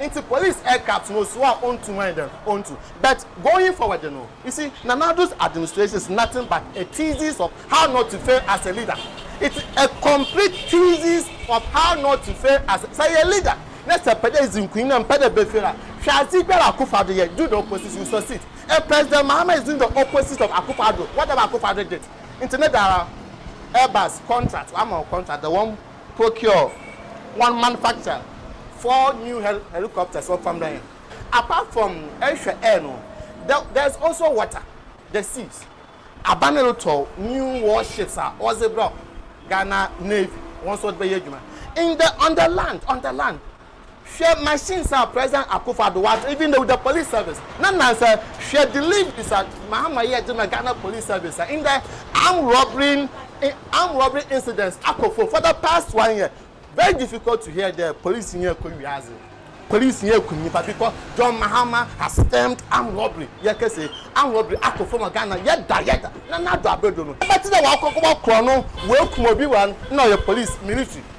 Nti police ɛka to no so a ontu ho ayɛ dɛn ontu but going forward no you see Nana Addo's administration is nothing but a thesis of how not to fail as a leader it's a complete thesis of how not to fail as a sɛ yɛ leader na sɛ pɛ dɛ edzi nkunyim na mmpɛ dɛ bɛfail a hwɛ adze biara a Akuffo Addo yɛ do the opposite you succeed and President Mahama is doing the opposite of Akuffo Addo whatever Akuffo Addo did nti ne da ara Airbus contract wɔama wo contract the one procure one manufacture four new helicopters wɔ fam dan apart from ɛhwɛ air no there is also water the seas aba ne retɔ new warships a ɔdze brɛ ghana navy wɔn nso ɔdze bɛyɛ adwuma in the on the land on the land. Hwɛ machines a President Akuffo Addo wagye even though the police service na nnansa hwɛ deliveries a Mahama yɛ gye ma Ghana police service a ndɛ armed robbery armed robbery incidents akɔ fam for the past one year very difficult to hear there police yɛ kɔ wiase police yɛ kum nipa because John Mahama has stemmed armed robbery yɛ kɛse armed robbery akɔ fam wɔ Ghana yɛ da yɛ da na n'ado abɛdo no ɛbɛte dɛ wakɔ kɔ bɔ korɔ no wakum obi wa na ɔyɛ police military.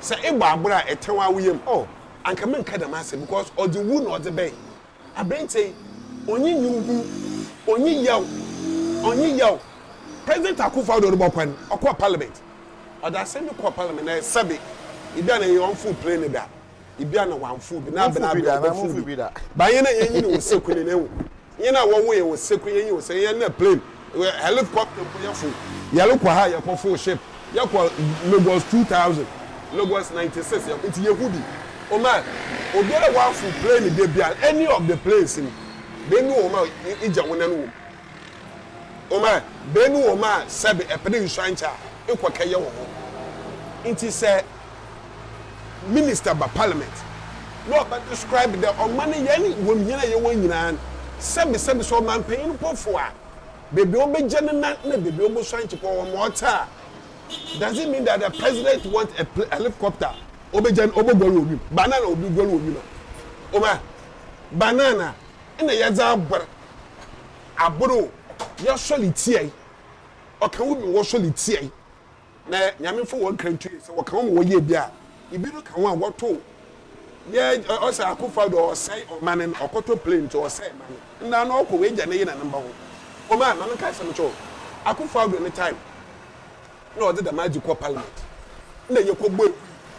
Sɛ ebɔ abor a etsɛn ara wo yamu, oh, anka mennka dɛm asɛm because ɔdze wu na ɔdze bɛn aberantsɛ yi, onnyi nyimhu, onnyi yaw, onnyi yaw. President Akuffo Addo robɔ kwan, ɔkɔɔ parliament, ɔdze asɛm bi kɔɔ parliament na sɛbe ibia na nnyɛ ɔmmfow plane no da, ibia na ɔammfow bi, na aber na aber a ɔbɔfow bi. Baa hɛn a yɛnye no wɔ sekun no, ehu, Hena a wɔwo yɛn wɔ sekuru yɛnyi wo sɛ yɛn nɛ plane wɛ helicopter mpo yɛ fow yɛre kɔ ha yɛ kɔ fow ship yɛ kɔ Lagos two thousand Lagos ninety six yɛ nti yɛ hu bi oma obi a wa fow plane dɛ bia any of the planes no bɛ nu oma igya wo nan wom oma bɛ nu oma sɛbe ɛpɛ dɛ nsua nkyɛ a ekɔ kɛ yɛ wo ho nti sɛ. minister ba parliament na ɔbɛ describe dɛ ɔman no yɛn wɔm hɛn a yɛwɔ nyinaa no sɛbi sɛbi sɛ ɔmanpanyin no pɔfo a beebi a ɔbɛgya ne nan na beebi a ɔbɔsua nkyekɔ wɔ ma ɔtse a does it mean that the president want a pla helicopter ɔbɛgya no ɔbɔguar wɔ wim banana obi guar wɔ wim a ɔbɛ banana na yɛdze abor abor o yɛsɔle tsiae ɔka wo bi wɔsɔle tsiae Na Nyame mfa wɔn kra ntuo yɛ sɛ wɔka ho ma wɔyɛ bi a ebi no ka ho a wɔtow yɛ ɔsɛ Akuffo Addo ɔsɛe ɔmane no ɔkɔtɔ plane nti ɔsɛe mane nna no ɔkɔ w'agya ne yena ne mba ho kɔm a ma me nka asɛm nkyɛ wo Akuffo Addo ne time na ɔdze dɛm adze kɔ parliament nna yɛkɔ bɔ ewui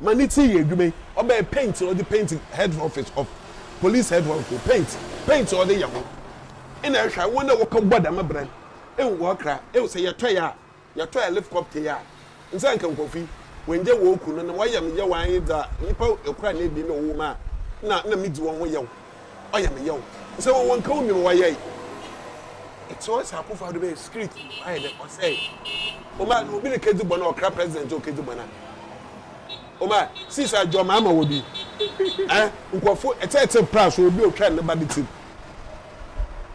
Ma ne ti yɛ adwuma yi. Ɔbɛyɛ paint ɔde paint head office of police head office paint paint ɔde yɛ ho ɛna ɛhwɛ wɔn a wɔkɔ bɔ dɛm brɛ no ehu wɔ kra ehu sɛ yɛtɔ yɛ a yɛtɔ yɛ lift copter yɛ a nsɛ nka nkɔfo yi wɔn gya wɔn ku no na wɔyɛ me yɛ wɔn ayɛ dza nipa ɛkora na ebien na ɔwɔ mu a na na me di wɔn ho yɛw. ɔyɛ me yaw sɛ wɔwɔ nka wo nwom wayɛe ɛte ɔsɛ akufo ado bɛyɛ street ayɛ dɛ ɔsɛ ɔma no obi ne kedi bɔ na ɔkra president o kedi bɔ na ɔma sis adwo ma ama wɔ bi ɛ nkɔfo ɛte ɛte pra so obi otwa ne ba ne ti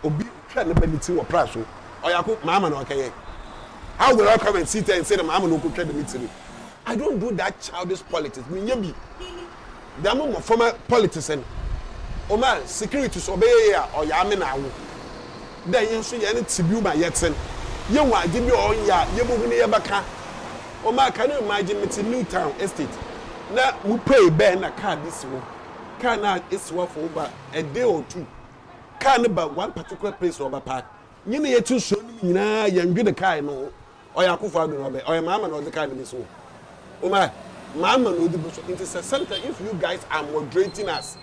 obi otwa ne ba ne ti wɔ pra so ɔyako ma ama na ɔkɛyɛ how will I come and sit and say na ma ama na ɔkotwa ne mi tiri I don't do that childish politics menyɛ bi. Dɛm mboframba politics no, ɔma security so ɔbɛyɛ yie a, ɔyɛ ame na awo. Dɛ hɛn so hɛn tsibew ma yɛtsen, yehu adze bi a ɔnnyɛ a, yebohu na yɛbɛkã. Ɔma kan no imagine metse Newtown estate na mupuei bɛn na kaar bi si hɔ, kaar no a esi hɔ for over a day or two, kaar no ba one particular place na ɔbɛpark, nye na yɛtse suon no mu nyina yɛnndwen kaar no ho. Ɔyɛ Akuffo Addo na ɔbɛ ɔyɛ Mahama na ɔdze kaa ne besi hɔ Omah eh Mahama na ɔdze gu so ntsi sɛ sometimes if you guys are moderating us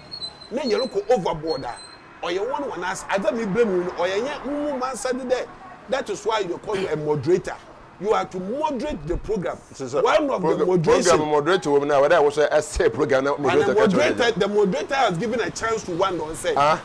na yɛrokɔ over board a ɔyɛ hɔn hɔn ase adze a mebrɛ mu yi no ɔyɛ nyɛ mo mo mansade dɛ that is why they call you a moderator you are to moderate the program Ntsi sɛ one of the prog program moderation moderator wɔ mu no a ɔwɔ dɛ wo so ɛsɛɛ program na and the moderator ka kyerɛ hɔn dza moderator the moderator has given a chance to Wandon sɛ ah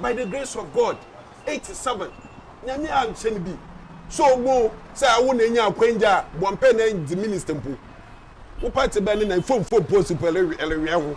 By the Grace of God, eight seven, Nyame annhyɛ no bi sɛ ɔmmu wo sɛ awo na enya akwangya a bɔ mpɛ na dzi minister mpo. Wo party bɛn no na mfomfo post mpo erewea ho.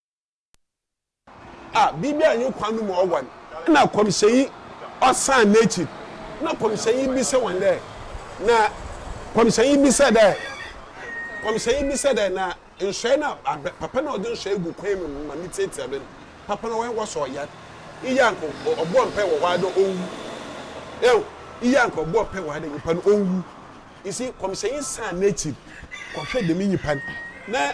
A biribi annye kwan no mu ɔwɔn. Nna kɔmhyɛnyi ɔsaan n'ekyir, na kɔmhyɛnyi bisa hɔn dɛ, Na kɔmhyɛnyi bisa dɛ, kɔmhyɛnyi bisa dɛ, Na nsɔe no a papa no a ɔdze nsɔe gu kwan mu ma mitsiatsia do no, papa no ɔwɔn wɔ so ɔyar? Iyi a nka ɔbɔɔ mpaa wɔ hɔ ara dɛ onwu. Ehu? Iyi a nka ɔbɔɔ mpaa wɔ ha dɛ nyimpa no onwu. You see, kɔmhyɛnyi saan n'ekyir kɔhwɛɛ dɛm nyimpa no, na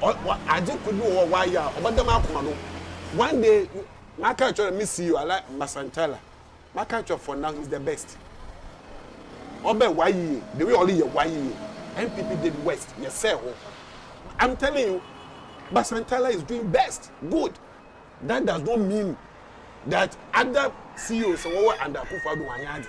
Ɔ wa adze kor bi wɔ hɔ a ɔayɛ a ɔbɛda m'akoma do. One day me makã akyerɛ no, me CEO, Alain Mbasanchara, makã akyerɛ no for now he's the best. Ɔbɛ YEA, the way ɔreyɛ YEA, NPP did worst, yɛsɛɛ hɔ. I'm telling you, Mbasanchara is doing best, good. That does not mean that other CEOs a wɔwɔ under Akufo-Addo wɔannyɛ adze.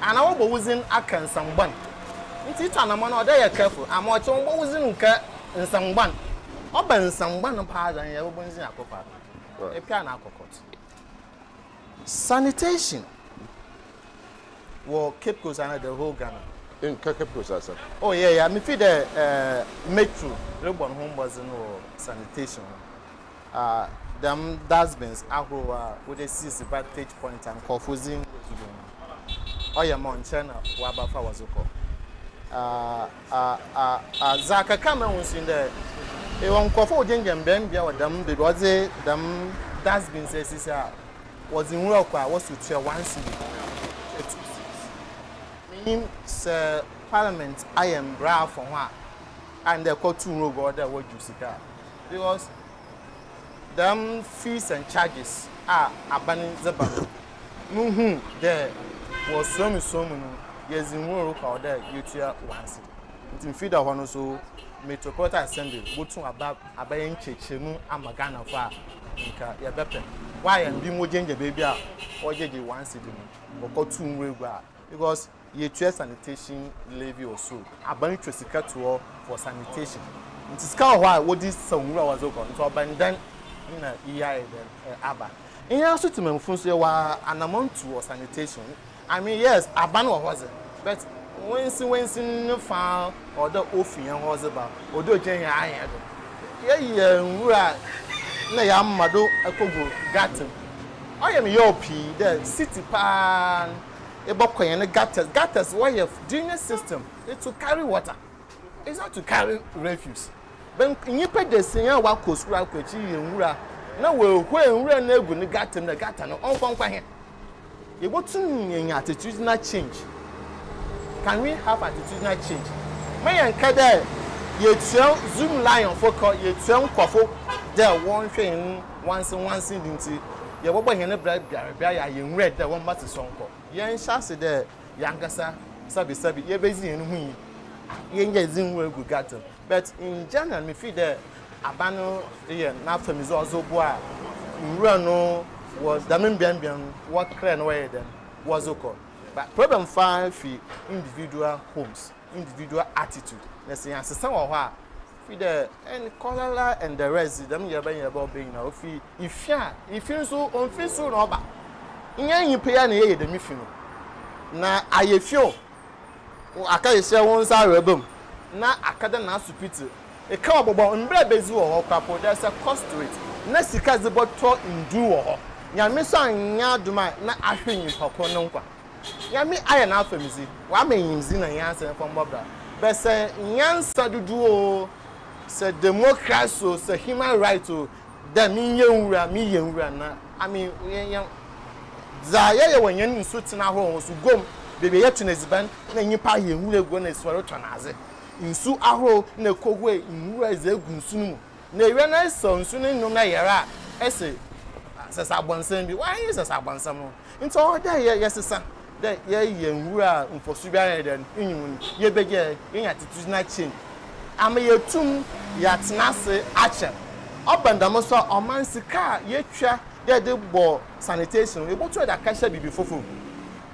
Ana wɔbɔ wo dzin akã nsɛm bɔn? Ntsi itu anamɔn a ɔda yɛ careful ama ɔkyɛ wɔbɔ wo dzin nkã nsɛm bɔn. Ɔba nsɛm bɔn paa dza nnyɛ wɔbɔ ndzin akɔ kwa do. Epe ana akɔ court. Sanitation wɔ Cape Coast ana the whole Ghana? Nka Cape Coast asɛm. Oh yeah yeah, mifii dɛ eh, Metro rebɔ no ho mbɔdzen wɔ sanitation ho. dɛm dustbins ahorow a wɔdze sisi vantage point a nkorɔfo dzi ngudo do no, ɔyɛ ma ɔnnkyɛr na wɔaba fa wɔdze kɔ. Dza kɛkaa ma mehu so nye dɛ, yɛwɔ nkorɔfo a wɔgyinagyina mbea mbea wɔ dɛm beebi a wɔdze dɛm dustbins esisi a, wɔdze nwura kɔ a wɔso tua one cedi tua two cedis. Minnyim sɛ parliament ayɛ mbra afa ho a, ayɛ no dɛ kɔtow nwura gu hɔ dɛ wɔdwow sika a, Because dɛm fees and charges a aban dze ba no, muhu dɛ wɔ suamusua mu no, yɛdze hɔn rokɔ a ɔwɔ dɛ yetua wɔase. Ntsi mfir da hɔ no so Metropolitan Assembly botum aba abɛyɛ nkyerɛkyerɛmu ama Ghanafo a nka yɛbɛpɛ. Wɔayɛ no, binom wogyinagyina beebi a wɔgyegye wɔase do no, wɔkɔtow nwura gu a, because Yɛtua sanitation levy wɔ sor. Aban twa sika to hɔ for sanitation. Ntsi sika wɔ hɔ a wɔdze sa nwura a wɔdze kɔ. Ntsi ɔbɛn dɛn na iyi ayɛ dɛn aba? Hɛn so Tsemammufo so yɛwɔ anamɔn tu wɔ sanitation. I mean, yes, aban wɔ hɔ dze, but wensin wensin ne fa a ɔwɔ dɛ ofi hɛn hɔ dze ba, ɔwɔ dɛ ogyina hɛn ayɛn do. Yɛyɛ nwura a nna yɛama do kɔgu gutter mu. Ɔyɛ me yaw pii dɛ city paa no, ebɔkɔ hɛn gutters, gutters wɔyɛ drainage system to carry water, is not to carry refuse, bɛn nyimpa dasia a wɔakɔ skuul akɔ ekyir yɛ nwura na woehuei nwura no egu ne gutter mu dɛ gutter no ɔnkɔ nkwa hɛn. Yebotum enya attitudinal change, can we have attitudinal change, mma yɛnnkã dɛ yetua Zoomlionfo kaw, yetua nkorɔfo dɛ wɔnhwɛ hɛn nwansenwansedi ntsi, yɛbɔbɔ hɛn bra biara bi ayɛ a yennwura dɛ wɔmma tse sɔnkɔ. Yɛnhyɛ ase dɛ yankasa sabisabi yebedzi hɛn ho nyi, yɛnnyɛ dzen nwura egu gata mu. But in general mifii dɛ aban no reyɛ n'afamidze ɔdze roboa nwura no wɔ dɛm mbeambea no wɔkra na wɔyɛ dɛn wɔdze kɔ. But problem faa fi individual homes, individual attitude na sɛ yɛannsesa wɔ hɔ a, Fi dɛ en kɔlala ndɛrɛdze dɛm nyɛrɛbɛnyɛrɛbɛ ɔbɛ nyina ofi ifi a ifi nso onfi sor na ɔba. Nnyɛ nyimpa yi ara na yɛyɛ dɛm fi no na ayɛ fi o wo aka hyɛ wo nsa awerɛba mu na aka dɛ n'asopitsi eka ɔbɔbɔ mbrɛ bedzi wɔ hɔ kora po dɛ sɛ kɔ street na sika dze bɔtɔ ndur wɔ hɔ nyame so annyɛ adom a na ahwe nyimpa kor no nkwa. Nyame ayɛ n'afamdzi, Ɔama nyimdzi na nyansa mfa mbɔ bra. Bɛ sɛ nyansa dodow o, sɛ democracy o, sɛ human right o, Dɛ mennyɛ nwura, meyɛ nwura na I mean yɛ yɛ Dza yɛyɛ wɔ hɛn nsutsen ahorow ho so, guam, beebi a yɛtɔn edziban na nyimpa ayɛ nwura egu hɔ na esuar rotɔn adze, nsu ahorow na ekohue nwura dze egu nsu no mu, Na ewia na sɔ nsu no nnwom na yera a, ese, Sesa abɔnsɛm bi. Why nye sesa abɔnsɛm no? Ntsi ɔwɔ dɛ yɛ yɛsesa dɛ yɛyɛ hɛn nwura a mfɔso biara nnyi dɛn nnwom no. Yebegye dɛ yenya tsitsir na chin ama yeetum yɛatsena ase akyɛ. Ɔba no dɛm so a, ɔman sika a yetwa dɛ yɛdze bɔ sanitation no, yebotum yɛdze akɛhyɛ biribi fofor mu.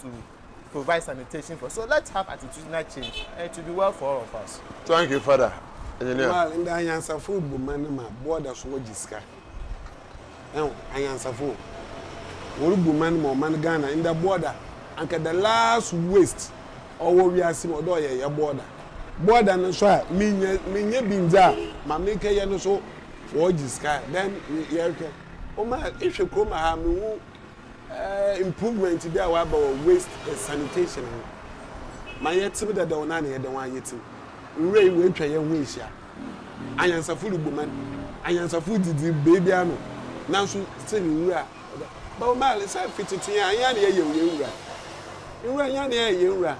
to provide sanitation for so let's have attitudinal change and it will be well for all of us. Thank you father engineer. Well ndɛ anyansafo bu man no ma border so wɔ gye sika ɛho anyansafo wɔre bu man ma ɔman Ghana ndɛ border anka the last waste ɔwɔ wiase mu ɔdɛ ɔyɛ yɛ border border no so a me nyɛ me nyɛ bi ndze a ma me kɛ yɛ no so wɔ gye sika then yɛ hwɛ ɔma ehwɛ kurom ha me hu. improvement bi a wɔaba wɔ waste and sanitation ho ma yɛtsew dadaw no a na yɛda ho ara yɛtsew. Nwura yi woetwa hɛn ho ehyia. Anyansafo rubu man, anyansafo ridzidzi beebiara no, naaso still nwura ɔda hɔ. But Omar, sɛ fi tsetsee a hɛn ara na yɛyɛ hɛn nwura. Nwura, hɛn ara na yɛyɛ hɛn nwura.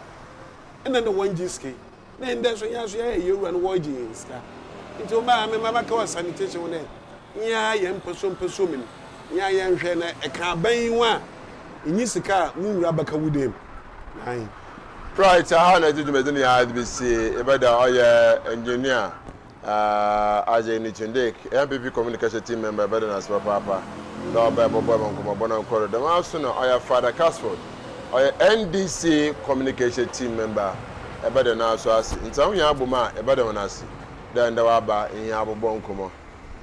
Nna nna wɔnngye sika yi. Ne ndɛ so hɛn so yɛyɛ hɛn wura no wɔregye hɛn sika ntsi wo maame mma mɛka wɔ sanitation ho dɛ nyɛ ara yɛ mpasuo mpasuo mu no nyɛ ara yɛnhwɛ na ɛka aban yi ho a nnyi sika a mo wura bɛka wo dan mu naae. Right, ɛha na ɛgye dwumadini a yɛde besie, yɛbɛda ɔyɛ engineer. Aah Isaac Newton Dick, yɛn PP Communication Team Member yɛbɛda no ase papaapa dɛ ɔbae bɔbɔe ma nkɔmbɔbɔ no nkɔr do. Dɛm ara so na ɔyɛ Father Casford, ɔyɛ NDC Communication Team Member yɛbɛda no ara so ase. Ntsi hom hɛn abɔmu a yɛbɛda hɔn ase dɛ ndɛ wɔaba hɛn abɔbɔ nkɔmbɔ.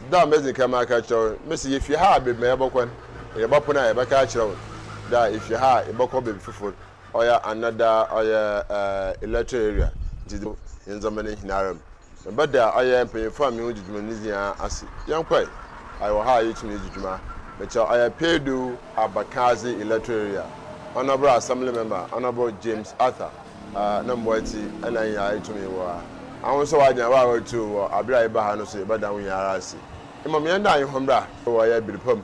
Dza medzi kan maka akyerɛ hɔn, mese yefi ha a beebi ma yɛbɔkɔ no, yɛbɔpon a yɛbɛka akyerɛ hɔn dɛ a yefi ha a yɛbɔkɔ beebi fofor ɔyɛ under da ɔyɛ ɛɛ electoral area nti de yɛn ndzɛmba no nyinara mu meba da ɔyɛ mpanyinfo a menye wɔn dzi dwuma no ne nyinaa ase yɛn kɔe ayɛ wɔ ha a yɛtumi edzi dwuma mekyɛ ɔyɛ Peedu Abakadze electoral area honourable assembly member honourable James Arthur ɛɛ ne mboa tsi ɛna yɛn nyinaa etumi wɔ ha aho nso w'adwen wɔ a wɔretu wɔ aber a yɛba ha no so yɛbɛda ho nyinara ase emom yɛn da yɛn ho mbra wɔ ɔyɛ Birpam.